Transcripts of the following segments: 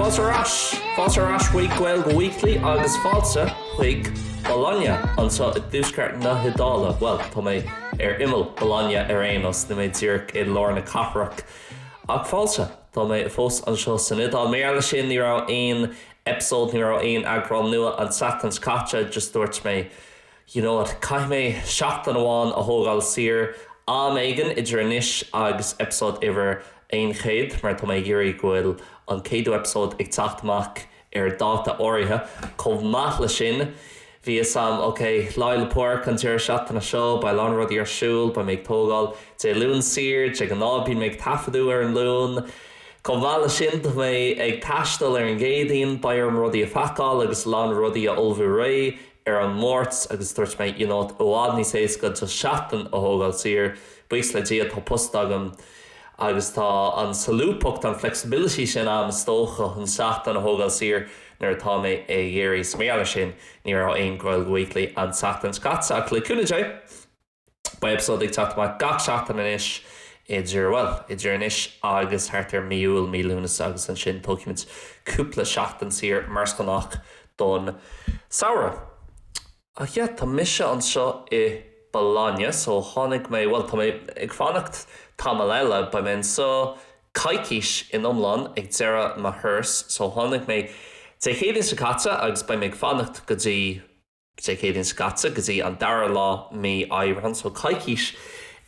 Fáilte ar ais chuig Gaeilge Weekly agus fáilte chuig Bologna anseo i dtuaisceart na hIodáile. Bhuel, tá mé ar imeall Bologna ar aon nós, níl mé díreach i lár na cathrach. Ach fáilte, tá mé fós anseo san Iodáil. Mar gheall ar sin, ní raibh aon eipeasóid, ní raibh aon eagrán nua an tseachtain seo caite, just dúirt mé You know what, caithfidh mé seachtain amháin a thógáil saor am éigin idir anois agus eipeasóid uimhir a 100 mar tá mé ag iarraidh go bhfuil an céadú eipeasóid ag teacht amach ar dáta áirithe. Chomh maith leis sin, bhí fhios a'm, ok, Lá 'le Pádraig an deireadh seachtaine seo, beidh a lán rudaí ar siúl, beidh mé ag tógáil Dé Luain saor, de ghnáth bím ag taifeadadh ar an Luan. Chomh maith leis sin, tá mé ag taisteal ar an gCéadaoin, beidh orm rudaí a phacáil agus a lán rudaí a ullmhú réidh, ar an Máirt agus dúirt mé you know i bhfad níos éasca just seachtain a thógáil saor, buíochas le Dia tá post agam agus tá an solúbthacht, an flexibility sin a'm is dócha chun seachtain a thógáil saor nuair atá mé ag iarraidh is mar gheall ar sin ní raibh aon Gaeilge Weekly an tseachtain seo caite ach le cúnamh Dé Beidh eipeasóid ag teacht amach gach seachtain anois idir, bhuel, idir anois agus thart ar mí Iúil, mí Lúnasa agus ansin tógfaimid cúpla seachtain saor mar is gnách don samhradh. Ach yeah, tá mise anseo i Bologna so tháinig mé, bhuel, tá mé ag fanacht tamall eile, beidh mé anseo coicís in iomlán ag deireadh mo thuras so tháinig mé Dé Céadaoin seo caite agus beidh mé ag fanacht go dtí, Dé Céadaoin seo caite go dtí an dara lá mí Aibreán, so coicís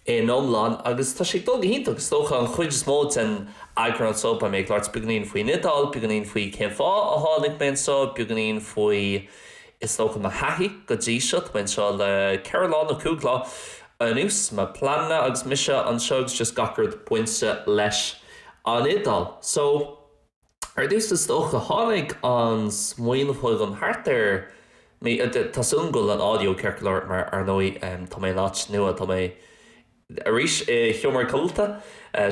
in iomlán agus tá sé ag dul go hiontach. Is dócha an chuid is mó den eagrán seo beidh mé ag labhairt beagainín faoin Iodáil, beagainín faoi cén fáth a tháinig mé anseo, beagainín faoi is dócha mo thaithí go dtí seo. Tá mé anseo le ceithre lá nó cúig lá anuas, mo pleananna agus mise anseo agus just gach rud bainte leis an Iodáil. So. Ar dtús, is dócha, tháinig an smaoineamh chugam thart ar mí, tá súil agam go bhfuil an audio ceart go leor mar, ar ndóigh, tá mé in áit nua, tá mé, arís, i seomra codlata,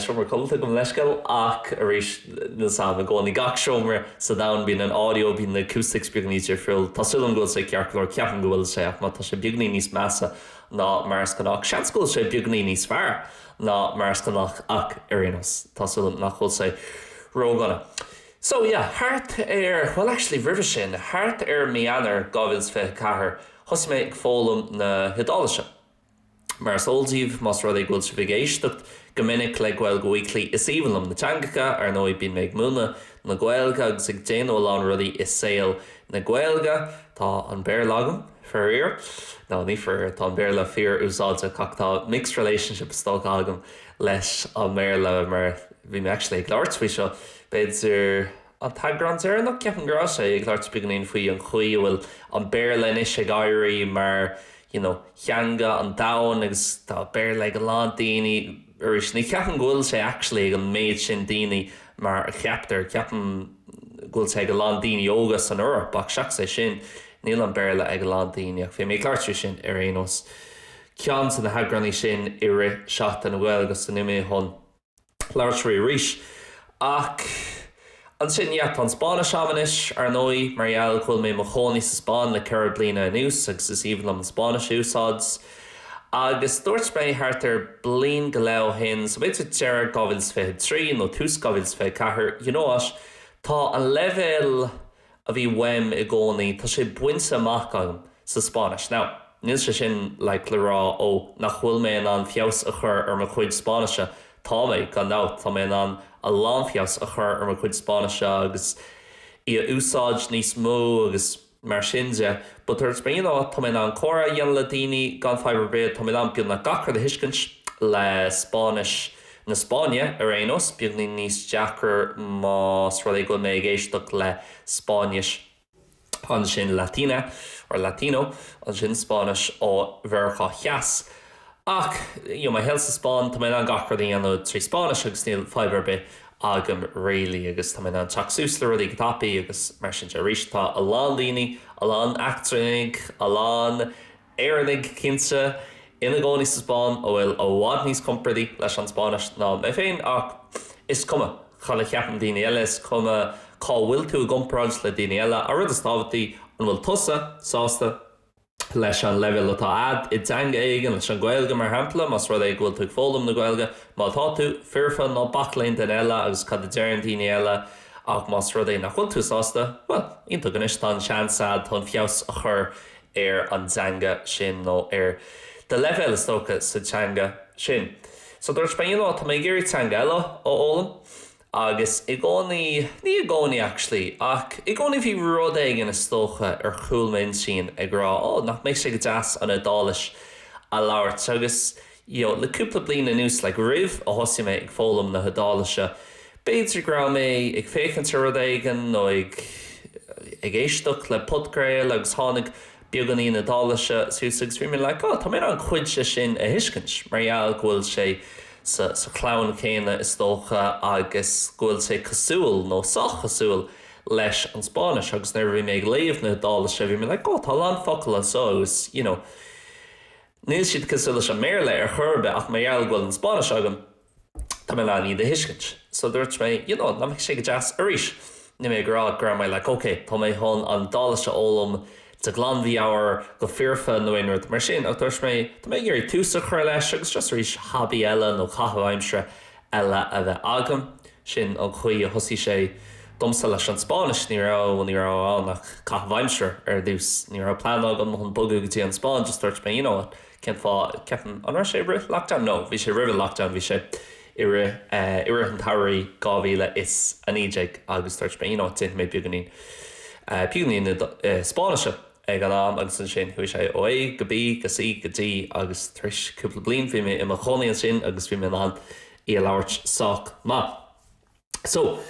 seomra codlata, gabh mo leithscéal, ach arís, níl fhios a'm, i gcónaí, gach seomra sa domhan, bíonn an audio, bíonn na acoustics beagainín difriúil, tá súil agam go bhfuil sé ceart go leor, ceapaim go bhfuil sé, ach má tá sé beagainín níos measa ná mar is gnách, seans go bhfuil sé beagainín níos fearr. ná mar is gnách ach ar aon nós tá súil agam nach bhfuil sé ródhona so yeah thart ar bhuel actually roimhe sin thart ar mí Eanáir 2024 thosaigh mé ag foghlaim na hIodáilise mar is eol daoibh más rud é go bhfuil sibh ag éisteacht go minic le Gaeilge Weekly is aoibhinn liom na teangacha ar ndóigh bím ag múineadh na Gaeilge agus ag déanamh a lán rudaí i saol na Gaeilge tá an Béarla agam Faraor, nó ní faraor, tá an Béarla fíor-úsáideach ach tá mixed relationship is dócha agam leis an mBéarla mar bhí mé actually ag labhairt faoi seo b'fhéidir an t-eagrán deireanach, ceapaim go raibh sé, ag labhairt beagáinín faoi an chaoi a bhfuil an Béarla anois ag éirí mar you know theanga an domhain agus tá Béarla ag a lán daoine arís ní cheapaim go bhfuil sé actually ag an méid sin daoine mar a cheaptar, ceapaim go bhfuil sé ag a lán daoine óga san Eoraip ach seachas é sin, Níl an Béarla ag a lán daoine ach bhí mé ag labhairt faoi sin ar aon nós. Ceann de na heagránaí sin i rith Seachtain na Gaeilge agus anois táim chun labhairt faoi arís. Ach ansin, yeah, tá an Spáinnis agam anois, ar ndóigh, mar gheall go bhfuil mé i mo chónaí sa Spáinn le ceithre bliana anuas agus is aoibhinn liom an Spáinnis a úsáid. Agus dúirt mé thart ar bliain go leith ó shin, so b'fhéidir deireadh 2023 nó tús 2024, you know what, tá an leibhéal, a bhí uaim i gcónaí, tá sé bainte amach agam sa Spáinnis. Now, níl sé sin, like, le rá, ó, nach bhfuil mé in ann feabhas a chur ar mo chuid Spáinnise, tá mé, gan dabht, tá mé in ann a lán feabhas a chur ar mo chuid Spáinnise agus í a úsáid níos mó agus mar sin de, but dúirt mé, you know, tá mé in ann comhrá a dhéanamh le daoine gan fadhb ar bith, tá mé in ann beagnach gach rud a thuiscint le Spáinnis. na Spáinne ar aon nós, beagáinín níos deacra más rud é go bhfuil mé ag éisteacht le Spáinnis, ansin Latina, or Latino, ansin Spáinnis ó Mheiriceá Theas. Ach, you know, mo shaol sa Spáinn, tá mé in ann gach rud a dhéanamh trí Spáinnis agus níl fadhb ar bith agam really agus tá mé in ann teacht suas le rudaí go tapaidh agus mar sin de. Arís, tá a lán daoine, a lán eachtrannach, a lán. Éireannaigh, cinnte, ina gcónaí sa Spáinn atá i bhfad níos compordaí leis an Spáinnis ná mé féin, ach is cuma cad a cheapann daoine eile, is cuma cá bhfuil tú i gcomparáid le daoine eile, an rud is tábhachtaí, an bhfuil tusa sásta leis an leibhéal atá a'd i dteanga éigin, leis an Ghaeilge mar shampla, más rud é go bhfuil tú ag foghlaim na Gaeilge, má tá tú, foirfe, ná bac le aon duine eile agus cad a deireann daoine eile, ach más rud é nach bhfuil tú sásta, bhuel, iontach, anois tá an seans a'd chun feabhas a chur ar an dteanga sin nó ar do leibhéal is dócha sa teanga sin. So dúirt mé you know tá mé ag iarraidh teanga eile a fhoghlaim agus i gcónaí, ní i gcónaí actually ach i gcónaí bhí rud éigin is dócha ar chúl m'intinn ag rá oh nach mbeadh sé go deas an Iodáilis a labhairt agus Le cúpla bliain anuas, like roimh a thosaigh mé ag foghlaim na hIodáilise, b'fhéidir go raibh mé ag féachaint ar rud éigin nó ag ag éisteacht le podchraoladh agus tháinig beagáinín Iodáilise suas agus bhí mé like oh tá mé in ann cuid de sin a thuiscint mar gheall go bhfuil sé sa sa chlann chéanna is dócha agus go bhfuil sé cosúil nó sách cosúil leis an Spáinnis agus nuair a bhí mé ag léamh na hIodáilise bhí mé like oh tá a lán focal anseo agus you know Níl siad cosúil leis an mBéarla ar chor ar bith ach mar gheall go bhfuil an Spáinnis agam tá mé in ann iad a thuiscint. So dúirt mé you know nach mbeadh sé go deas arís? Níl mé ag rá go raibh mé like ok tá mé chun an Iodáilis a fhoghlaim de ghlanmheabhair go foirfe nó aon rud mar sin ach dúirt mé tá mé ag iarraidh tús a chur leis agus just arís hobby eile nó caitheamh aimsire eile a bheith agam. Sin an chaoi a thosaigh sé. Domsa, leis an Spáinnis, ní raibh, ní raibh ann ach caitheamh aimsire ar dtús. Ní raibh plean agam chun bogadh go dtí an Spáinn, just dúirt mé, you know what, cén fáth, ceapaim, an raibh sé i rith lockdown? No, bhí sé roimh lockdown, bhí sé i rith, i rith an tsamhraidh 2019 agus dúirt mé, you know what, déanfaidh mé beagáinín, beagáinín Spáinnise. ag an am agus ansin chuaigh sé ó A go B go C go D agus tar éis cúpla bliain bhí mé i mo chónaí ansin agus bhí mé in ann í a labhairt sách maith. So,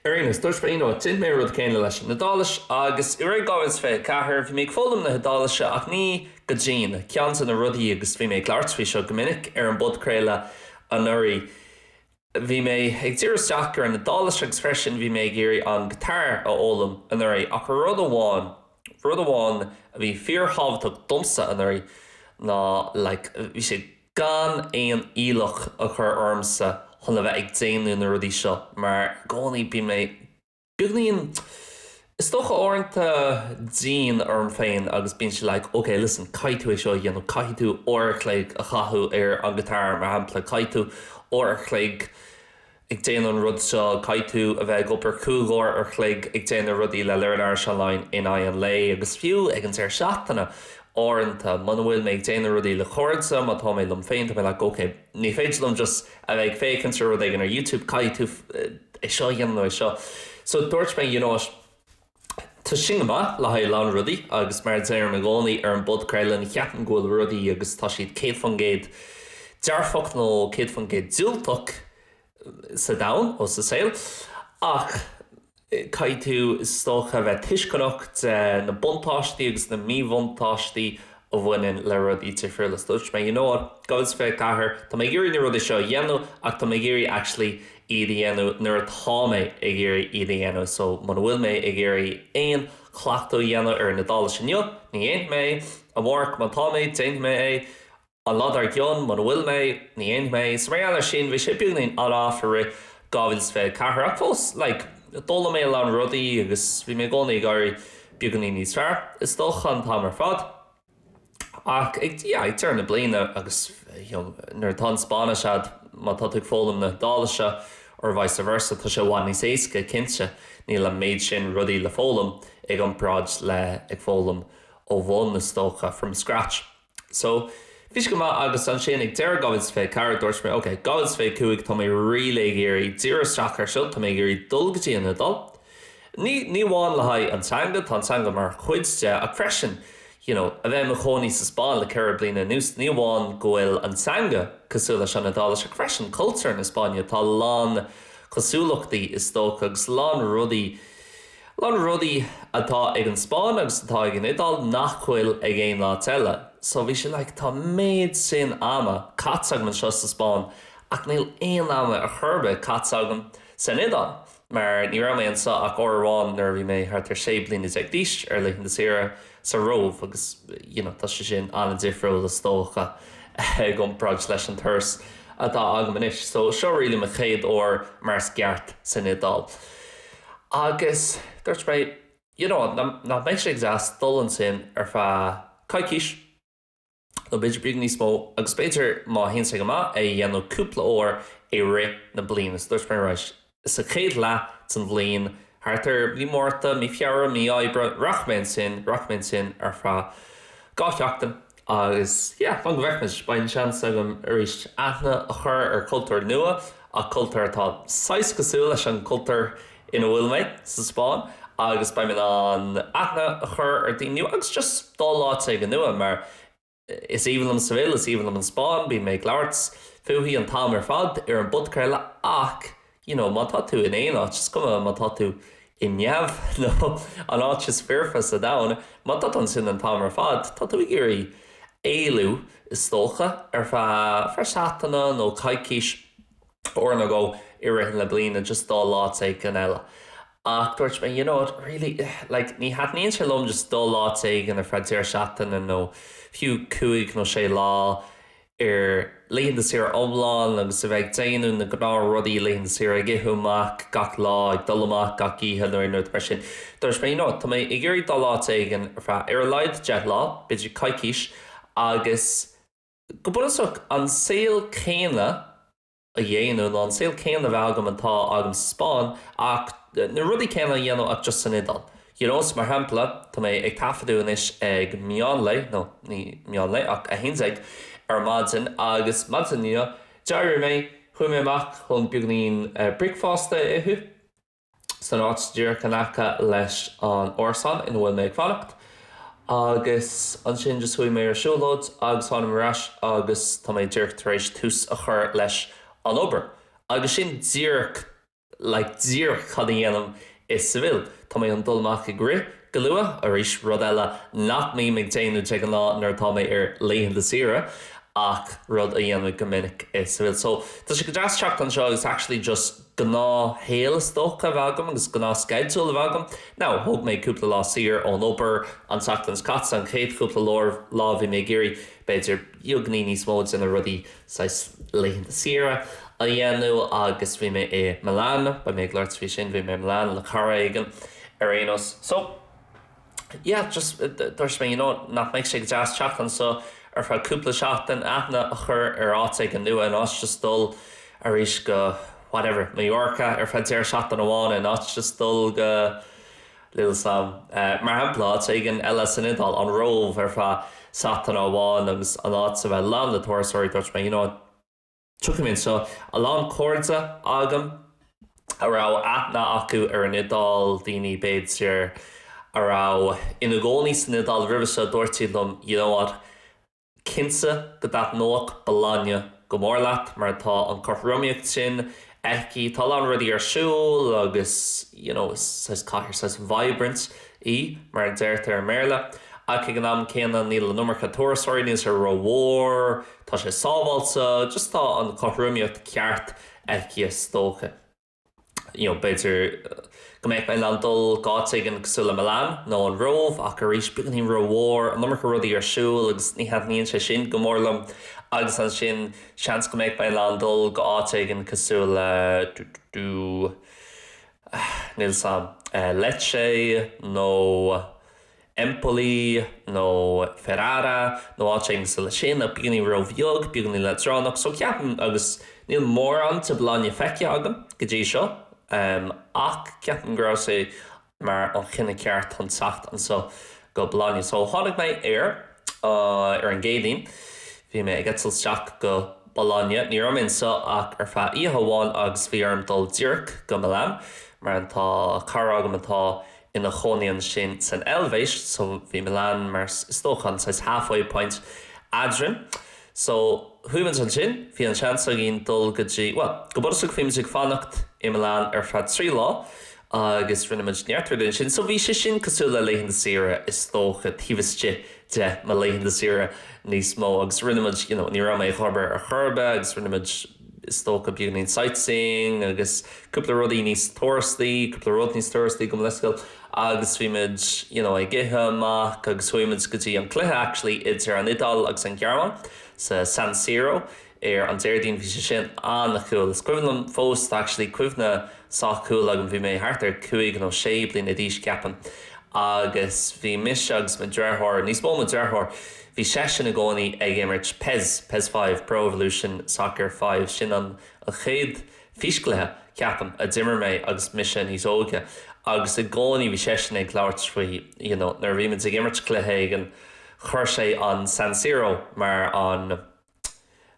ar aon nós, dúirt mé you know déanfaidh mé an rud céanna leis an Iodáilis agus i rith 2024 bhí mé ag foghlaim na hIodáilise ach ní go dian, ceann de na rudaí agus bhí mé ag labhairt faoi seo go minic ar an bpodchraoladh anuraidh, Bhí mé ag diriú isteach ar an Iodáilis agus freisin bhí mé ag iarraidh an guitar a fhoghlaim anuraidh ach rud amháin, rud amháin a bhí fíor thábhachtach domsa anuraidh ná like bhí sé gan aon iallach a chur ormsa chun a bheith ag déanamh na rudaí seo mar i gcónaí bíonn mé Beagáinín, is dócha, uaireanta dian orm féin agus bíonn sé like, okay, listen, caithfidh tú é seo a dhéanamh, caithfidh tú uair a chloig a chaitheamh ar an guitar, mar shampla, caithfidh tú uair a chloig ag déanamh an rud seo, caithfidh tú a bheith ag obair cúig uair a chloig ag déanamh rudaí le Learn Irish Online in aghaidh an lae agus fiú ag an deireadh seachtaine uaireanta muna bhfuil mé ag déanamh rudaí le cairde, má tá mé liom féin, tá mé like, okay, ní féidir liom just a bheith ag féachaint ar rud éigin ar YouTube, caithfidh tú é seo a dhéanamh nó é seo. So dúirt mé you know what, tá sin go maith le haghaidh a lán rudaí agus mar a deirim i gcónaí ar an bpodchraoladh, ní cheapaim go bhfuil rudaí agus tá siad 100% dearfach nó 100% diúltach sa domhan, nó sa saol, ach. Caithfidh tú, is dócha, a bheith tuisceanach de na buntáistí agus na míbhuntáistí a bhaineann le rudaí difriúla. So dúirt mé, you know what, 2024, tá mé ag iarraidh na rudaí seo a dhéanamh ach tá mé ag iarraidh actually iad a dhéanamh nuair atá mé ag iarraidh iad a dhéanamh. So muna bhfuil mé ag iarraidh aon chleachtadh a dhéanamh ar an Iodáilis inniu, ní dhéanfaidh mé é, amárach má tá mé, déanfaidh mé é. An lá dár gcionn, muna bhfuil mé, ní dhéanfaidh mé. Is mar gheall air sin, bhí sé beagáinín on off i rith 2024 ach fós, like, d'fhoghlaim mé a lán rudaí agus bhí mé i gcónaí ag éirí beagáinín níos fearr, is dócha, an t-am ar fad. Ach ag, yeah, ag deireadh na bliana agus, you know, nuair atá an Spáinnis a'd, má tá tú ag foghlaim na hIodáilise or vice versa, tá sé i bhfad níos éasca, cinnte, níl an méid sin rudaí le foghlaim i gcomparáid le ag foghlaim ó bhun, is dócha, from scratch. So, bhí sé go maith agus ansin ag deireadh 2024 dúirt mé 'ok, 2025 tá mé really ag iarraidh díriú isteach ar seo, tá mé ag iarraidh dul go dtí an Iodáil'. Ní, ní amháin le haghaidh an teanga, tá an teanga mar chuid de ach freisin you know, a bheith i mo chónaí sa Spáinn le ceithre bliana anuas, ní amháin go bhfuil an teanga cosúil leis an Iodáilis ach freisin cultúr na Spáinne, tá a lán cosúlachtaí is dócha agus a lán rudaí, A lán rudaí atá ag an Spáinn agus atá ag an Iodáil nach bhfuil ag aon áit eile. So bhí sé like tá an méid sin ama caite agam anseo sa Spáinn ach níl aon am ar chor ar bith caite agam san Iodáil mar ní raibh mé ansin ach uair amháin nuair a bhí mé thart ar 16 bliana d'aois ar laethanta saoire sa Róimh agus you know tá sé sin an-difriúil is dócha i gcomparáid leis an turas atá agam anois. So seo really mo chéad uair mar is ceart san Iodáil. Agus dúirt mé, you know, nach mbeadh sé deas dul ansin ar feadh coicís nó b'fhéidir beagán níos mó agus b'fhéidir má théann sé go maith, é a dhéanamh cúpla uair i rith na bliana. Is dúirt mé, right, sa chéad leath den bhliain, thart ar mí Márta, mí Feabhra, mí Aibreáin, rachaidh mé ansin, rachaidh mé ansin ar feadh dhá sheachtain. Agus yeah, fan go bhfeicfimid. Beidh an seans agam arís aithne a chur ar chultúr nua, ach cultúr atá saghas cosúil leis an cultúr ina bhfuil mé, sa Spáinn, agus beidh mé in ann aithne a chur ar daoine nua agus just dul áit éigin nua, mar is aoibhinn liom Seville, is aoibhinn liom an Spáinn, bíonn mé ag labhairt fúithi an t-am ar fad ar an bpodchraoladh, ach. you know má tá tú in aon áit, is cuma má tá tú i Neamh nó an áit is foirfe sa domhan, má tá tú ansin an t-am ar fad, tá tú ag iarraidh éalú, is dócha, ar feadh, feadh seachtaine nó coicís uair nó dhó i rith na bliana just dul áit éigin eile. Ach dúirt mé, you know what, really, like, ní thaitníonn sé liom just dul áit éigin ar feadh deireadh seachtaine nó fiú cúig nó sé lá, ar laethanta saoire iomlán agus a bheith ag déanamh na gnáth rudaí, laethanta saoire, ag ithe amach gach lá, ag dul amach gach oíche nó aon rud mar sin. Dúirt mé, you know, tá mé ag iarraidh dul áit éigin ar feadh ar a laghad deich lá, b'fhéidir coicís agus go bunúsach an saol céanna, a dhéanamh nó an saol céanna a bheith agam atá agam sa Spáinn, ach na rudaí céanna a dhéanamh ach just san Iodáil. You know, so mar shampla, tá mé ag taifeadadh anois ag meánlae, nó ní meánlae ach a haon déag ar maidin, agus maidin inniu, d'éirigh mé, chuaigh mé amach chun beagainín bricfeasta a ithe, san áit díreach in aice leis an árasán ina bhfuil mé ag fanacht agus ansin just chuaigh mé ar siúlóid agus tháinig mé ar ais agus tá mé díreach tar éis tús a chur leis an obair agus sin díreach like díreach cad a dhéanaim i Seville. Tá mé chun dul amach ag rith go luath arís, rud eile nach mbím ag déanamh de ghnáth nuair atá mé ar laethanta saoire ach rud a dhéanaim go minic i Seville so tá sé go deas teacht anseo agus actually just gnáthshaol is dócha a bheith agam agus gnáthsceideal a bheith agam. Now, thóg mé cúpla lá saor ón obair an tseachtain seo caite, an chéad chúpla lá lá bhí mé ag iarraidh b'fhéidir beagáinín níos mó de na rudaí saghas laethanta saoire a dhéanamh agus bhí mé i Milan, beidh mé ag labhairt faoi sin, bhí mé i Milan le cara éigin ar aon nós. So. yeah just dúirt mé you know nach mbeadh sé go deas teacht anseo ar feadh cúpla seachtain, aithne a chur ar áit éigin nua in áit just dul arís go whatever Mallorca ar feadh deireadh seachtaine amháin in áit just dul go little sam eh, mar shampla áit éigin eile san Iodáil, an Róimh ar feadh seachtaine amháin agus an áit a bheith lán le turasóirí dúirt mé you know. Tiocfaidh mé anseo, a lán cairde agam a raibh aithne acu ar an Iodáil, daoine b'fhéidir a raibh ina gcónaí san Iodáil roimhe seo, dúirt siad liom, you know what, cinnte go dtaitneodh Bologna go mór leat mar tá an chothromaíocht sin aici, tá a lán rudaí ar siúl agus you know is saghas cathair, saghas vibrant í mar a deirtear i mBéarla ach ag an am céanna níl an iomarca turasóirí, níl sé ró-mhór. Tá sé sábháilte, just tá an chothromaíocht ceart aici is dócha. You know, b'fhéidir go mbeadh mé in ann dul go áit éigin cosúil le Milan nó an Róimh ach arís beagáinín ró-mhór, an iomarca rudaí ar siúl agus ní thaitníonn sé sin go mór liom agus ansin seans go mbeadh mé in ann dul go áit éigin cosúil le, dú dú dú, ahh níl 's 'am, Lecce nó Empoli nó Ferrara nó áit éigin cosúil leis sin, ach beagáinín róbheag, beagáinín leadránach, so ceapaim, agus níl mórán de Bologna feicthe agam go dtí seo, ach ceapaim go raibh sé mar an chinneadh ceart chun teacht anseo go Bologna. So tháinig mé ar, ar an gCéadaoin, bhí mé ag eitilt isteach go Bologna, ní raibh mé anseo ach ar feadh oíche amháin agus bhí orm dul díreach go Milan mar tá cara agam atá ina chónaí ansin san Eilvéis so bhí Milan mar is dócha an saghas halfway point eadrainn so chuaigh muid ansin bhí an seans againn dul go dtí bhuel go bunúsach bhí muid ag fanacht i Milan ar feadh trí lá agus rinne muid neart rudaí ansin so bhí sé sin cosúil le laethanta saoire is dócha taobh istigh de mo laethanta saoire níos mó agus rinne muid you know ní raibh mé ag obair ar chor ar bith agus rinne muid is dócha, beagáinín sightseeing agus cúpla rudaí níos turastaí, cúpla rud níos turastaí gabh mo leithscéal agus bhí muid you know ag ithe amach agus chuaigh muid go dtí an cluiche actually idir an Iodáil agus an Ghearmáin sa San Siro ar an Déardaoin bhí sé sin an-cool is cuimhin liom fós tá actually cuimhne sách cool agam bhí mé thart ar 5 nó 6 bliana d'aois ceapaim agus bhí mise agus mo dheartháir níos mó mo dheartháir Bhí seisean i gcónaí ag imirt pes, pes Five, Pro Evolution Soccer Five. Sin an chéad físchluiche, ceapaim, a d'imir mé agus mise níos óige. Agus i gcónaí bhí seisean ag labhairt faoi, you know, nuair a bhí muid ag imirt cluiche éigin, chuir sé an San Siro mar an,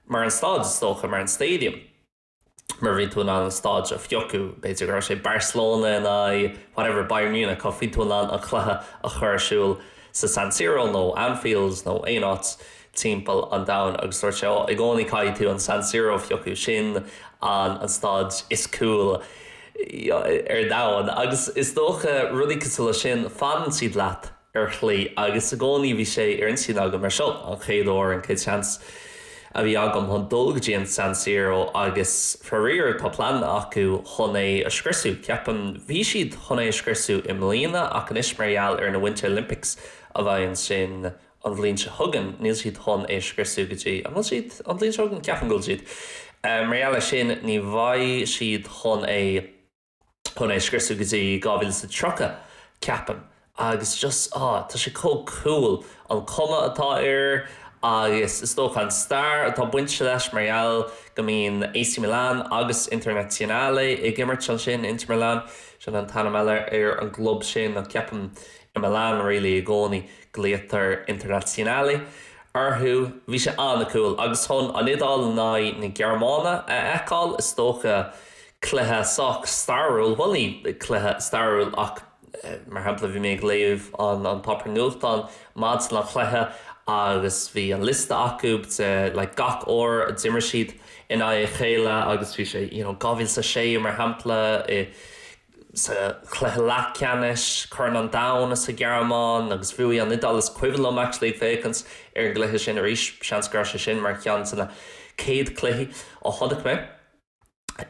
mar an staid, is dócha, mar an stadium. mar bhí tú in ann an staid a phiocadh, b'fhéidir go raibh sé Barcelona in aghaidh, whatever, Bayern Munich, ach bhí tú in ann an cluiche a chur ar siúl sa San Siro nó Anfield nó aon áit timpeall an domhain agus dúirt sé, ó, i gcónaí caithfidh tú an San Siro a phiocadh, sin an, an staid is cool ar domhan agus is dócha rudaí cosúil leis sin, fanann siad leat. ar shlí, agus i gcónaí bhí sé ansin agam, mar seo an chéad uair, an chéad seans a bhí agam chun dul go dtí an San Siro agus faraor tá pleananna acu chun é a scriosadh, ceapaim. Bhí siad chun é a scriosadh i mbliana ach anois mar gheall ar na Winter Olympics a bheidh ansin an bhliain seo chugainn, níl siad chun é a scriosadh go dtí, ó, an bhfuil siad? an bhliain seo chugainn? Ceapaim go bhfuil siad. Mar gheall air sin ní bheidh siad chun é a. chun é a scriosadh go dtí 2030, ceapaim, agus just, á, tá sé chomh cool, an chuma atá air agus is dócha an stair atá bainte leis mar gheall go mbíonn AC Milan agus Internazionale ag imirt ansin, Inter Milan, sin an t-ainm eile ar an gclub sin ach ceapaim i Milan really i gcónaí glaotar Internazionale orthu, bhí sé an-cool agus chun an Iodáil in aghaidh na Gearmáine a fheiceáil, is dócha cluiche sách stairiúil, bhuel ní cluiche stairiúil ach mar shampla bhí mé ag léamh an páipéar nuachtáin maidin an chluiche agus bhí an liosta acu de like gach uair a d'imir siad in aghaidh a chéile agus bhí sé you know 2006 mar shampla i sa chluiche leathcheannais Chorn an Domhain sa Ghearmáin agus bhuaigh an Iodáil is cuimhin liom actually ag féachaint ar an gcluiche sin arís seans go raibh sé sin mar cheann de na céad cluichí a chonaic mé.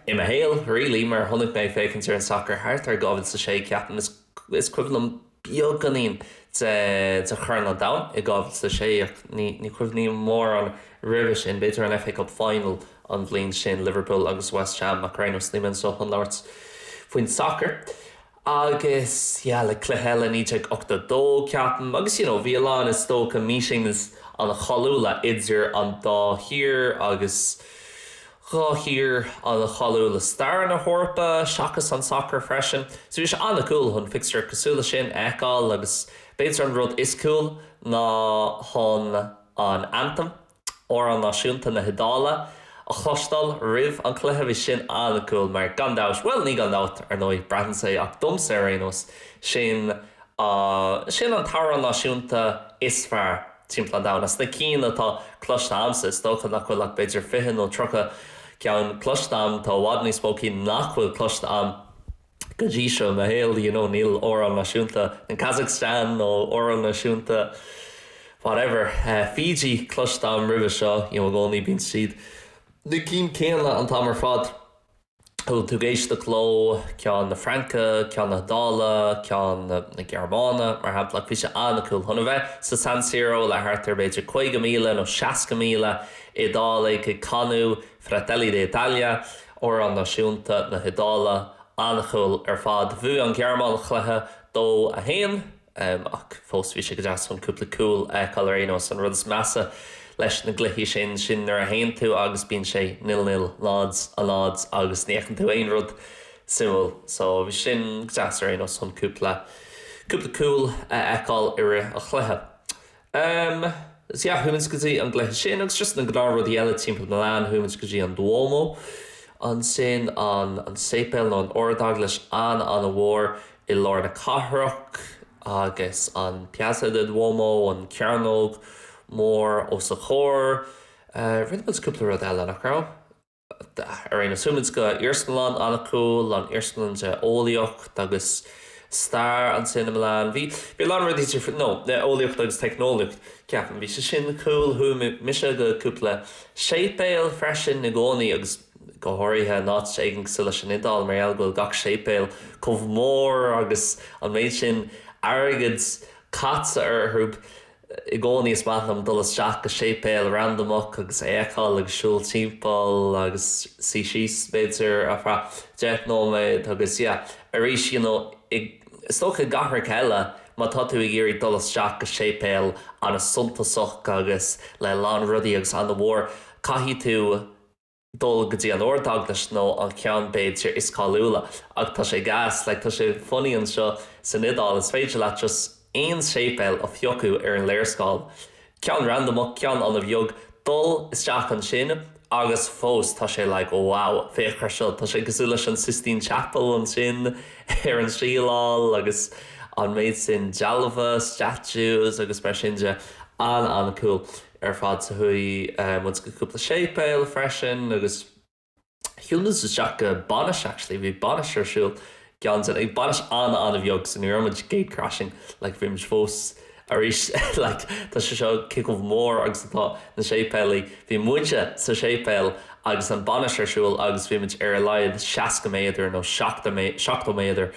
I mo shaol, really, mar a chonaic mé ag féachaint ar an sacar thart ar 2006, ceapaim, is, is cuimhin liom beagáinín de, de Chorn an Domhain i 2006 ach ní, ní chuimhním mórán roimhe sin, b'fhéidir an FA Cup Final an bhliain sin, Liverpool agus West Ham, ach ar aon nós, nílim anseo chun labhairt faoin sacar. Agus, yeah, like, cluiche eile 1982, ceapaim, agus, you know, bhí a lán, is dócha, meetings ana cháiliúla idir an dá thír agus dhá thír ana cháiliúil i stair na hEorpa, seachas an sacar freisin. So bhí sé ana cool chun fixture cosúil le sin a fheiceáil agus b'fhéidir an rud is cool ná chun an anthem, Amhrán Náisiúnta na hIodáile, a chloisteáil roimh an chluiche. Bhí sin an-cool mar gan dabht, bhuel, ní gan dabht, ar ndóigh, braitheann sé, ach domsa ar aon nós, sin an, sin an t-amhrán náisiúnta is fearr timpeall an domhain. As na cinn atá cloiste a'msa, is dócha nach bhfuil ach b'fhéidir fiche nó tríocha ceann cloiste a'm, tá i bhfad níos mó cinn nach bhfuil cloiste a'm. go dtí seo i mo shaol you know níl amhrán náisiúnta in Kazakhstan nó amhrán náisiúnta whatever Fiji cloiste am roimhe seo you know i gcónaí bíonn siad na cinn céanna an t-am ar fad a bhfuil tú ag éisteacht leo ceann na Fraince ceann na hIodáile ceann na na Gearmáine mar shampla ach bhí sé an-cool chun a bheith sa San Siro le thart ar b'fhéidir 50,000 nó 60,000 Iodálaigh ag canadh Fratelli d'Italia, Amhrán Náisiúnta na hIodáile, an-cool ar fad. Bhuaigh an Ghearmáin an chluiche, 2, 1, ach fós bhí sé go deas chun cúpla cúl a fheiceáil ar aon nós. An rud is measa leis na gcluichí sin, sin nuair a théann tú agus bíonn sé nil, nil, náid, a náid agus ní fheiceann tú aon rud suimiúil. So bhí sin go deas ar aon nós chun cúpla, cúpla cúl a fheiceáil i rith an chluiche. Um, is ea, chuaigh muid go dtí an gcluiche sin agus just na gnáth rudaí eile timpeall Milan, chuaigh muid go dtí an Duomo ansin, an, an séipéal nó an ardeaglais an-an-mhór i lár na cathrach agus an Piazza del Duomo, an cearnóg mhór os a chomhair. Uh, rinne muid cúpla rud eile, nach raibh? Ar aon nós chuaigh muid go iarsmalann an-cool, an iarsmalann de eolaíocht agus stair ansin i Milan. Bhí bhí a lán rudaí no, eolaíocht agus teicneolaíocht, ceapaim. Bhí sé sin cool. Chuaigh mise go cúpla séipéal freisin i gcónaí agus go háirithe in áit éigin cosúil leis an Iodáil mar gheall go bhfuil gach séipéal chomh mór agus an méid sin airgead caite orthu. I gcónaí is maith liom dul isteach go séipéal randamach agus é a fheiceáil agus siúl timpeall agus suí síos b'fhéidir ar feadh deich nóiméad agus yeah arís you know i, is dócha i gcathracha eile má tá tú ag iarraidh dul isteach go séipéal an-suntasach agus le a lán rudaí agus an-mhór caithfidh tú dul go dtí an Ardeaglais nó an ceann b'fhéidir is cáiliúla ach tá sé gas, like tá sé funny anseo san Iodáil is féidir leat just aon séipéal a phiocadh ar an léarscáil, ceann randamach, ceann an-bheag, dul isteach ansin agus fós tá sé like wow féach ar seo, tá sé cosúil leis an Sistine Chapel ansin ar an tsíleáil agus an méid sin dealbha, statues agus mar sin de, an-an-cool. ar fad so chuaigh muid go cúpla séipéal freisin agus shiúil muid isteach go bainis actually bhí bainis ar siúl i gceann de na bainis an-an-bheag so ní raibh muid gatecrashing like bhí muid fós arís like tá sé seo cé chomh mór agus atá na séipéalaí bhí muide sa séipéal agus an bainis ar siúl agus bhí muid ar a laghad 60 méadar nó 70 mé 70 méadar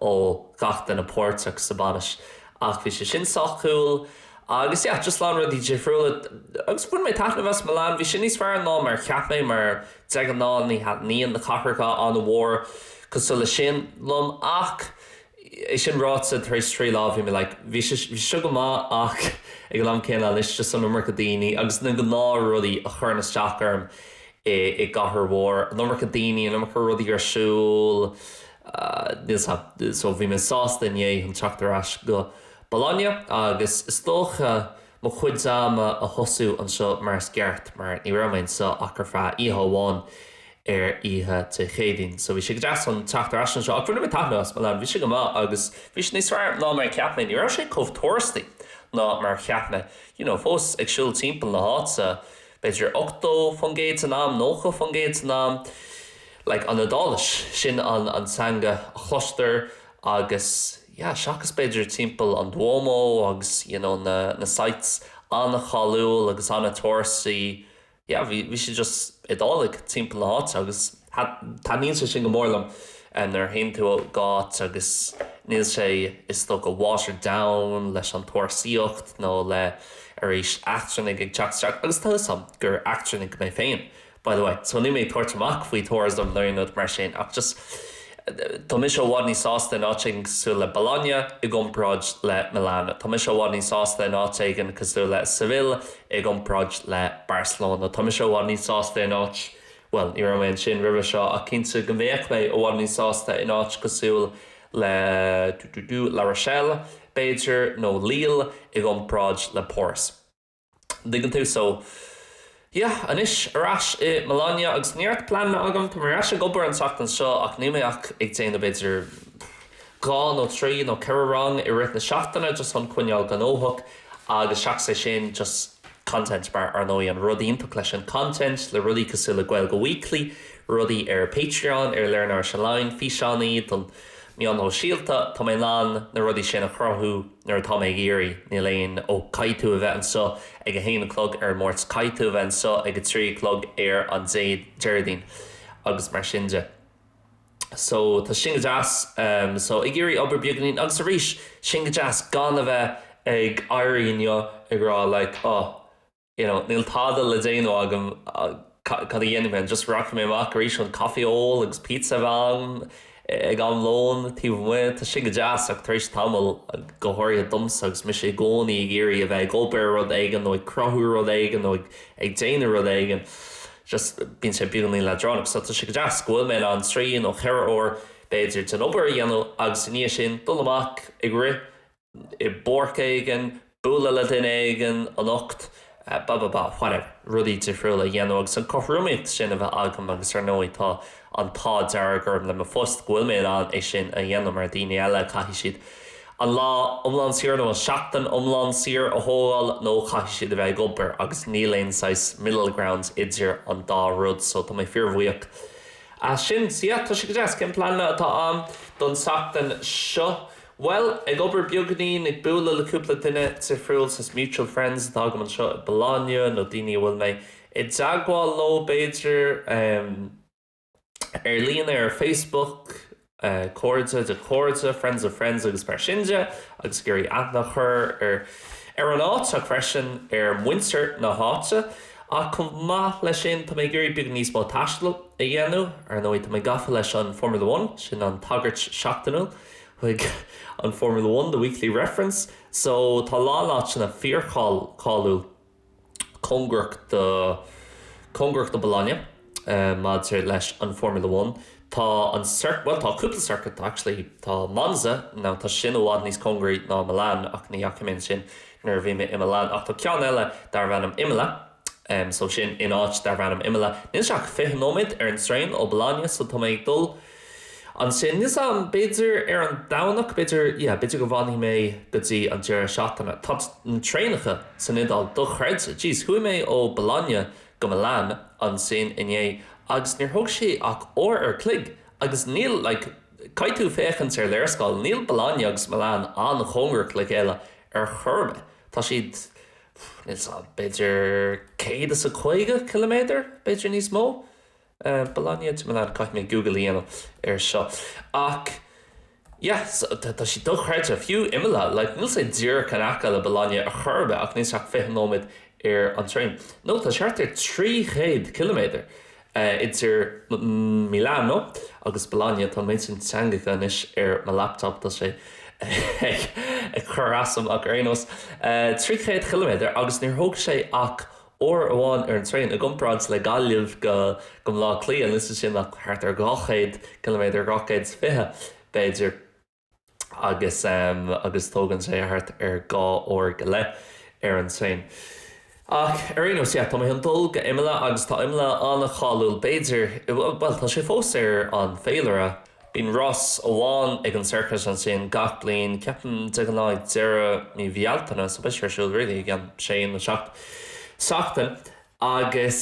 ó gach duine páirteach sa bainis ach bhí sé sin sách cool Agus yeah, just a lán rudaí difriúla agus bhain mé taitneamh as Milan, bhí sé níos fearr ná mar a cheap mé mar de ghnáth ní thaitníonn na cathracha an-mhór cosúil leis sin liom ach é sin ráite, tar éis trí lá bhí mé like, bhí sé, bhí sé seo go maith ach ag an am céanna anois just an iomarca daoine agus na gnáthrudaí a chuireann isteach orm i, i gcathair mhór, an iomarca daoine, an iomarca rudaí ar siúl, níl, so bhí mé sásta inné chun teacht ar ais go. Bologna agus is dócha mo chuid ama a thosú anseo mar is gceart mar ní raibh mé anseo ach ar feadh oíche amháin ar oíche Dé Céadaoin. So bhí sé go deas chun teacht ar ais anseo ach bhain mé taitneamh as Milan, bhí sé go maith agus bhí sé níos fearr ná mar a cheap mé, ní raibh sé chomh tourist-y ná mar a cheap mé. You know, fós ag siúl timpeall na háite, b'fhéidir ochtó faoin gcéad den am, nócha faoin gcéad den am. Like, an Iodáilis, sin an an teanga a chloistear agus. yeah seachas b'fhéidir timpeall an Duomo agus you know na na sites an-cháiliúil agus an-tourist-y yeah bhí bhí sé just Iodáiligh timpeall na háite agus taitníonn sé sin go mór liom eh nuair a théann tú go háit agus níl sé is dócha watered down leis an turasóireacht nó le arís eachtrannaigh ag teacht isteach agus tá 'fhios a'm gur eachtrannach mé féin By the way, so níl mé ag tabhairt amach faoi tourism nó aon rud mar sin ach just tá mise i bhfad níos sásta in áit éigin cosúil le Bologna i gcomparáid le Milan. Tá mise i bhfad níos sásta in áit éigin cosúil le Seville i gcomparáid le Barcelona. Tá mise i bhfad níos sásta in áit, bhuel, ní raibh mé ansin roimhe seo ach cinnte go mbeadh mé i bhfad níos sásta in áit cosúil le dú dú dú La Rochelle, b'fhéidir, nó Lille i gcomparáid le Páras. An dtuigeann tú? So. Yeah. Anois, ar ais i Bologna agus neart pleananna agam. Tá mé ar ais ag obair an tseachtain seo ach níl mé ach ag déanamh b'fhéidir dhá nó trí nó ceithre rang i rith na seachtaine just chun coinneáil gnóthach agus seachas é sin just content mar ar ndóigh an rud iontach leis an content le rudaí cosúil le Gaeilge Weekly, rudaí ar Patreon, ar Learn Irish Online, físeáin do na meáin shóisialta, tá mé in ann na rudaí sin a chruthú nuair atá mé ag iarraidh, níl aon, ó, caithfidh tú a bheith anseo ag a haon a chlog ar an Máirt, caithfidh tú a bheith anseo ag a trí a chlog ar an Déardaoin agus mar sin de. So, tá sin go deas. So, ag iarraidh obair beagáinín agus arís, sin go deas, gan a bheith ag éirí inniu ag rá like, oh, you know níl tada le déanamh agam cad a dhéanfaidh mé just rachaidh mé amach arís chun caife a ól agus pizza a bheith agam ag am lóin taobh amuigh tá sin go deas ach tar éis tamaill go háirithe domsa agus mise i gcónaí ag iarraidh a bheith ag obair rud éigin nó ag cruthú rud éigin nó ag ag déanamh rud éigin just bíonn sé beagáinín leadránach so tá sé go deas go bhfuil mé in ann trí nó ceithre uair b'fhéidir den obair a dhéanamh agus i ndiaidh sin dul amach ag rith i bpáirc éigin, bualadh le duine éigin anocht, ba ba ba, whatever, rudaí difriúla a dhéanamh agus an chothromaíocht sin a bheith agam agus ar ndóigh tá an t-ádh dearg orm le mo phost go bhfuil mé in ann é sin a dhéanamh mar daoine eile caithfidh siad an lá iomlán saor nó an seachtain iomlán saor a thógáil nó caithfidh siad a bheith ag obair agus níl aon saghas middle ground idir an dá rud so tá mé fíor bhuíoch as sin so yeah tá sé go deas cén pleananna atá a'am don tseachtain seo? Bhuel, ag obair beagáinín, ag bualadh le cúpla duine difriúil, saghas mutual friends atá agam anseo i Bologna, nó daoine a bhfuil mé i dteagmháil leo, b'fhéidir, ar líne, ar Facebook, cairde de chairde, friends of friends agus mar sin de, agus ag iarraidh aithne a chur ar ar an áit ach freisin ar mhuintir na háite. Ach chomh maith leis sin, tá mé ag iarraidh beagán níos mó taistil a dhéanamh. Ar ndóigh, tá mé gafa leis an Formula One, sin an tagairt seachtainiúil. chuig an Formula One, The Weekly Reference so tá a lán áiteanna fíorcháiliúil cóngarach do cóngarach do Bologna maidir leis an Formula One. Tá an cir bhuel tá cúpla circuit actually tá Monza now tá sin i bhfad níos cóngaraí do Milan ach ní dheachaigh mé ansin nuair a bhí mé i Milan ach tá ceann eile darb ainm Imola, so sin in áit darb ainm Imola. Níl sé ach fiche nóiméad ar an traein ó Bologna so tá mé ag dul ansin, níl 's agam, b'fhéidir ar an Domhnach, b'fhéidir, yeah, b'fhéidir go bhfanfaidh mé go dtí an deireadh seachtaine. Tá na traenacha san Iodáil dochreidte. Jeez, chuaigh mé ó Bologna go Milan ansin inné agus níor thóg sé ach uair an chloig agus níl, like, caithfidh tú féachaint ar léarscáil, níl Bologna agus Milan an-chóngarach le chéile ar chor ar bith. Tá siad. níl sé ach b'fhéidir céad is a caoga ciliméadar, b'fhéidir níos mó. Bologna to Milan, caithfidh mé Google a dhéanamh air seo. Ach yeah, tá sé dochreidte, fiú Imola, like níl sé díreach in aice le Bologna ar chor ar bith ach níl sé ach fiche nóiméad ar an traein. No, tá thart ar trí chéad ciliméadar. idir Milano agus Bologna. Tá an méid sin teangacha anois ar mo laptop, tá sé ag cur asam, ach ar aon nós, 300 chiliméadar, agus níor thóg sé ach uair amháin ar an traein, i gcomparáid le Gaillimh go Baile Átha Cliath, níl sé sin ach thart ar 200 ciliméadar, 220 b'fhéidir. agus agus tógann sé thart ar dhá uair go leith ar an traein. Ach ar aon nós, yeah, tá mé chun dul go Imola agus tá Imola an-cháiliúil b'fhéidir, bhuel, tá sé fós ar an bhféilire. Bíonn rás amháin ag an circuit ansin gach bliain, ceapaim de ghnáth ag deireadh mí Bhealtaine, so beidh sé ar siúl really i gceann sé nó seacht seachtain agus,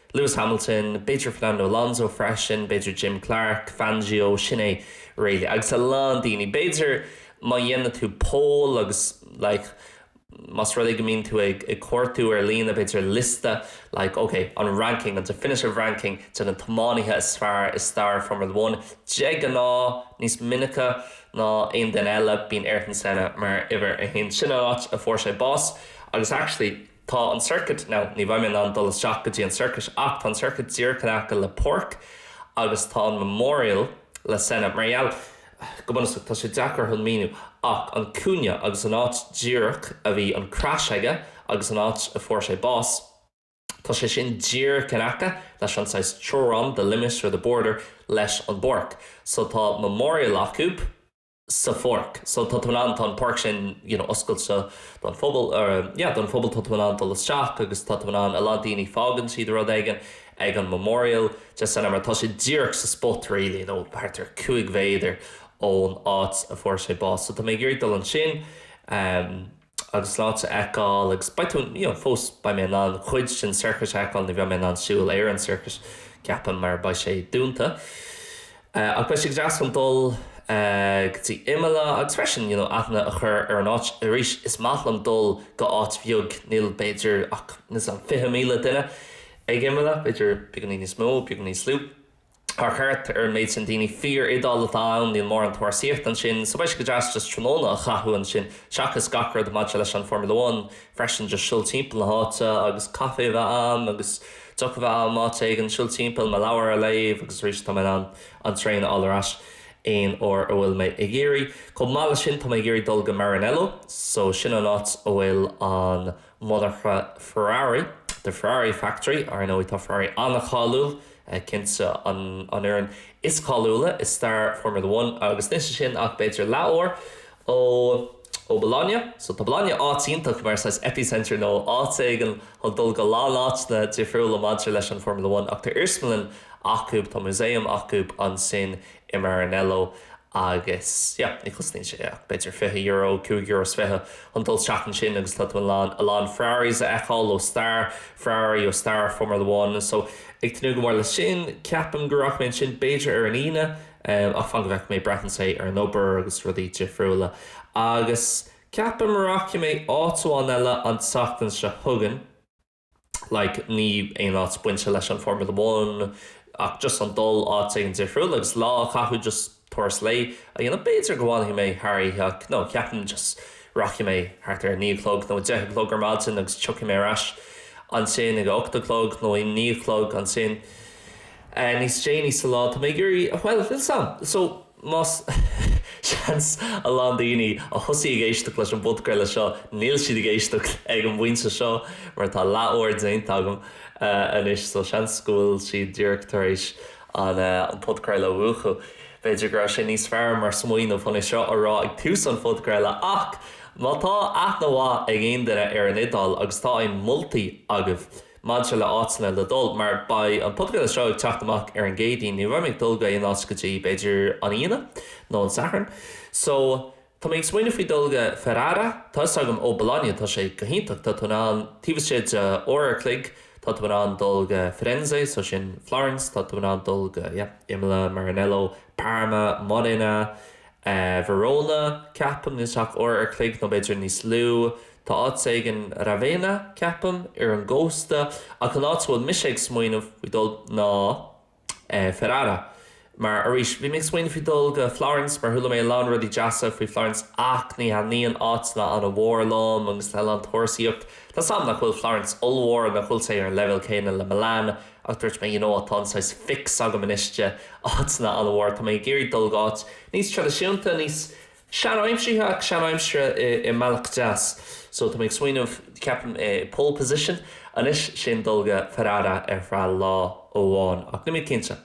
Lewis Hamilton, b'fhéidir Fernando Alonso freisin, b'fhéidir Jim Clark, Fangio, sin é really agus a lán daoine. B'fhéidir má dhéanann tú poll agus like más rud é go mbíonn tú ag ag cuartú ar líne b'fhéidir liosta like okay an ranking an definitive ranking de na tiománaithe is fearr i stair Formula One de ghnáth níos minice ná aon duine eile bíonn Ayrton Senna mar uimhir a haon sin an áit a fuair sé bás agus actually Tá an circuit, now, ní bheidh mé in ann dul isteach go dtí an circuit ach tá an circuit díreach in aice le páirc agus tá an memorial de Senna mar gheall, go bunúsach, tá sé deacair chun míniú ach an cúinne agus an áit díreach a bhí an crash aige agus an áit a fuair sé bás, tá sé sin díreach in aice leis an saghas teorainn, the limit or the border, leis an bpáirc. So tá memorial acu. sa pháirc so tá tú in ann tá an páirc sin you know oscailte don phobal or yeah don phobal tá tú in ann dul isteach agus tá tú in ann a lán daoine fágann siad rud éigin ag an memorial de Senna mar tá sé díreach sa spot really you know thart ar cúig mhéadar ón áit a fuair sé bás so tá mé ag iarraidh dul ansin um, agus é sin a fheiceáil agus beidh tú you know fós beidh mé in ann cuid den circuit a fheiceáil ní bheidh mé in ann siúl ar an circuit ceapaim mar beidh sé dúnta ach beidh sé go deas chun dul go dtí Imola agus freisin you know aithne a chur ar an áit arís is maith liom dul go áit bheag níl b'fhéidir ach níos lú ná 20,000 duine ag Imola b'fhéidir beagainín níos mó beagainín níos lú. Thart ar an méid sin daoine fíor Iodáil atá ann, níl mórán turasóireacht ansin, so beidh sé go deas just tráthnóna a chaitheamh ansin, seachas gach rud maidir leis an Formula One freisin just siúl timpeall na háite agus caife a bheith a'm agus deoch a bheith a'm áit éigin, siúl timpeall, mo leabhar a léamh agus arís tá mé in ann an traein a fháil ar ais aon uair a bhfuil mé ag iarraidh. Chomh maith leis sin tá mé ag iarraidh dul go Maranello so sin an áit a bhfuil an Monarcha Ferrari, The Ferrari Factory, Ar ndóigh tá Ferrari an-cháiliúil, cinnte an fhoireann is cáiliúla i stair Formula One agus níl sin ach b'fhéidir leathuair ó ó Bologna. So tá Bologna in áit iontach mar saghas epicentre nó áit éigin chun dul go lán áiteanna difriúla maidir leis an Formula One ach tá iarsmalann acu, tá museum acu ansin i Maranello agus yeah ní chosnaíonn sé ach b'fhéidir fiche euro, cúig euro is fiche chun dul isteach ansin agus tá tú in ann a lán Ferraris a fheiceáil ó stair Ferrari, ó stair Formula One so ag tnúth go mór leis sin, ceapaim go rachaidh mé ansin b'fhéidir ar an Aoine ach fan go bhfeicfidh mé braitheann sé ar an obair agus rudaí difriúla agus ceapaim go rachaidh mé áit amháin eile an tseachtain seo chugainn. like ní aon áit bainte leis an Formula One ach just chun dul áit éigin difriúil agus lá a chaitheamh just turas lae a dhéanamh b'fhéidir go bhfanfaidh mé thar oíche ach no ceapaim just rachaidh mé thart ar a naoi a chlog nó a deich a chlog ar maidin agus tiocfaidh mé ar ais ansin ag a hocht a chlog nó a naoi a chlog ansin níos déanaí sa lá tá mé ag iarraidh bhuel a fhios agam so Más seans a lán daoine a thosaigh ag éisteacht leis an bpodchraoladh seo, níl siad ag éisteacht ag an bpointe seo mar tá leath uair déanta agam anois so seans go bhfuil siad díreach tar éis an podchraoladh a mhúchadh. B'fhéidir go raibh sé níos fearr mar smaoineamh chun é seo a rá ag tús an podchraoladh ach má tá aithne mhaith ag aon duine ar an Iodáil agus tá aon mholtaí agaibh, Maidir le áiteanna le dul, mar beidh an Podchraoladh seo ag teacht amach ar an gCéadaoin, ní bheidh mé ag dul go haon áit go dtí, b'fhéidir, an Aoine nó an Satharn. So, tá mé ag smaoineamh faoi dul go Ferrara, tá 'fhios agam ó Bologna, tá sé go hiontach, tá tú in ann, taobh istigh de uair an chloig, tá tú in ann dul go Firenze, so sin Florence, tá tú in ann dul go, yeah, Imola, Maranello, Parma, Modena, Verona, ceapaim, níl sé ach uair an chloig nó b'fhéidir níos lú. Tá áit éigin, Ravenna, ceapaim, ar an gcósta, ach an áit a bhfuil mise ag smaoineamh faoi dul ná Ferrara. Mar, arís, bhí mé ag smaoineamh faoi dul go Florence mar chuala mé a lán rudaí deasa faoi Florence ach ní thaitníonn áiteanna an-mhór liom agus le a lán turasóireacht, tá 's 'am nach bhfuil Florence ollmhór, nach bhfuil sé ar an leibhéal céanna le Milan, Ach mar a dúirt mé, you know, tá an saghas fix agam anois de, áiteanna an-mhóra, tá mé ag iarraidh dul go áit níos traidisiúnta, níos seanaimseartha ach seanaimseartha i mbealach deas. So tá mé ag smaoineamh, ceapaim, pole position anois, sin dul go Ferrara ar feadh lá amháin ach níl mé cinnte.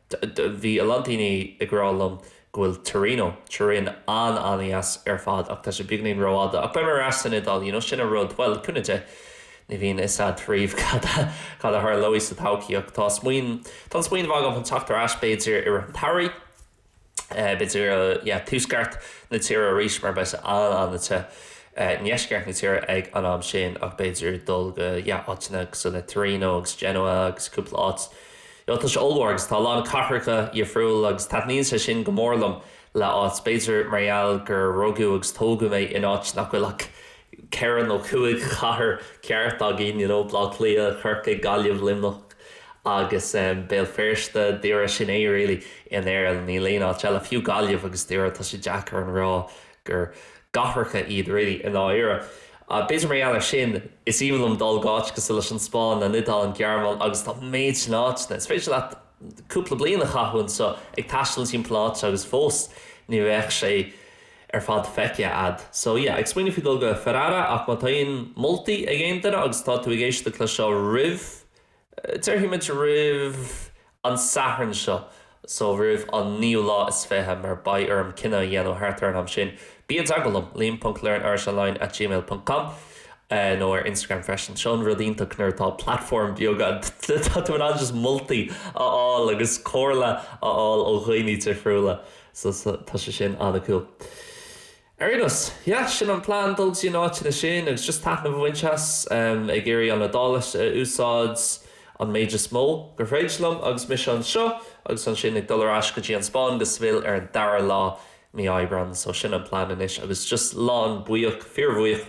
Bhí a lán daoine ag rá liom go bhfuil Torino, Turin, an-an-deas ar fad ach tá sé beagáinín rófhada. Ach beidh mé ar ais san Iodáil you know, sin an rud, bhuel, cúnamh Dé, ní bhíonn a fhios agat riamh cad a, cad a tharlóidh sa todhchaí ach tá smaoin, tá an smaoineamh agam chun teacht ar ais b'fhéidir i rith an tsamhraidh, b'fhéidir yeah, tuaisceart na tíre arís mar beidh sé an-an-te i ndeisceart na tíre ag an am sin ach b'fhéidir dul go áiteanna cosúil le Torino agus Genoa agus cúpla áit. Bhuel, tá sé ollmhór agus tá a lán cathracha difriúla agus taitníonn sé sin go mór liom le áit, b'fhéidir mar gheall gur rugadh agus tógadh mé in áit nach bhfuil ach ceithre nó cúig chathair cheart againn, you know, Bleá Cliath, Corcaigh, Gaillimh, Luimneach agus ehm Béal Feirste, Doire, sin é really in Éirinn, níl aon áit eile, fiú Gaillimh agus Doire, tá sé deacair a rá gur cathracha iad really i ndáiríre. B'fhéidir mar gheall ar sin is aoibhinn liom dul go áiteanna cosúil leis an Spáinn, an Iodáil, an Ghearmáin agus tá an méid sin áiteanna, is féidir leat cúpla bliain a chaitheamh anseo ag taisteal timpeall na háite agus fós ní bheadh sé ar fad feicthe agat. So yeah, ag smaoineamh faoi dul go Ferrara ach má tá aon moltaí ag aon duine agus tá tú ag éisteacht leis seo roimh Déarfaimid roimh an Satharn seo so, roimh an naoú lá is fiche, mar beidh orm cinneadh a dhéanamh thart ar an am sin. Bí i dteagmháil liom, liam ponc learnirishonline at gmail ponc com, nó ar Instagram freisin. Seo an rud iontach nuair atá platform beag agat, tá tú in ann just moltaí a fháil agus comhairle a fháil ó dhaoine difriúla so tá sé sin an-cool. Ar aon nós, yeah, sin an plean, dul go dtí na áiteanna sin agus just taitneamh a bhaint as, ag iarraidh an Iodáilis a úsáid an méid is mó gur féidir liom agus mise anseo agus ansin ag dul ar ais go dtí an Spáinn go Seville ar an dara lá mí Aibreán. So sin an plean anois agus just lán-buíoch, fíorbhuíoch.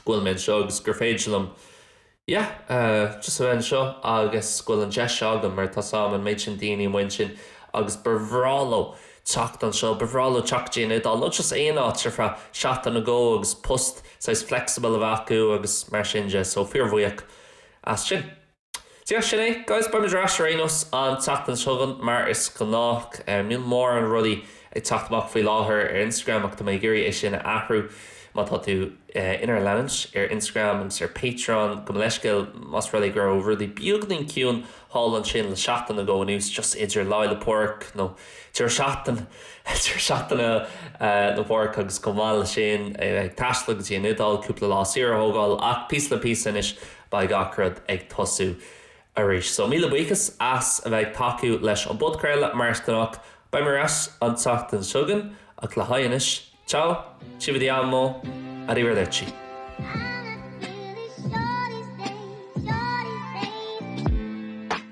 go bhfuil mé anseo agus gur féidir liom yeah just a bheith anseo agus go bhfuil an deis seo agam mar tá a fhios agam an méid sin daoine amuigh ansin agus ba bhreá leo teacht anseo, ba bhreá leo teacht go dtí an Iodáil nó just aon áit ar feadh seachtain nó dhó agus post saghas flexible a bheith acu agus mar sin de so fíor bhuíoch as sin. Sin é. Guys, beidh mé ar ais ar aon nós an tseachtain seo chugainn mar is gnách. Níl mórán rudaí ag teacht amach faoi láthair ar Instagram ach tá mé ag iarraidh é sin a athrú. Má tá tú inár leanúint ar Instagram agus ar Patreon, gabh mo leithscéal más rud é go raibh rudaí beagainín ciúin thall ansin le seachtain nó dhó anois just idir Lá 'le Pádraig nó deireadh seachtain deireadh seachtaine Pádraig agus chomh maith leis sin ag taisteal go dtí an Iodáil cúpla lá saoire a thógáil ach píosa le píosa anois Beidh gach rud ag tosú arís. So, míle buíochas as a bheith ag tacú leis an bpodchraoladh, mar is gnách. Beidh mé ar ais an tseachtain seo chugainn, ach le haghaidh anois, ciao, ci vediamo, arrivederci!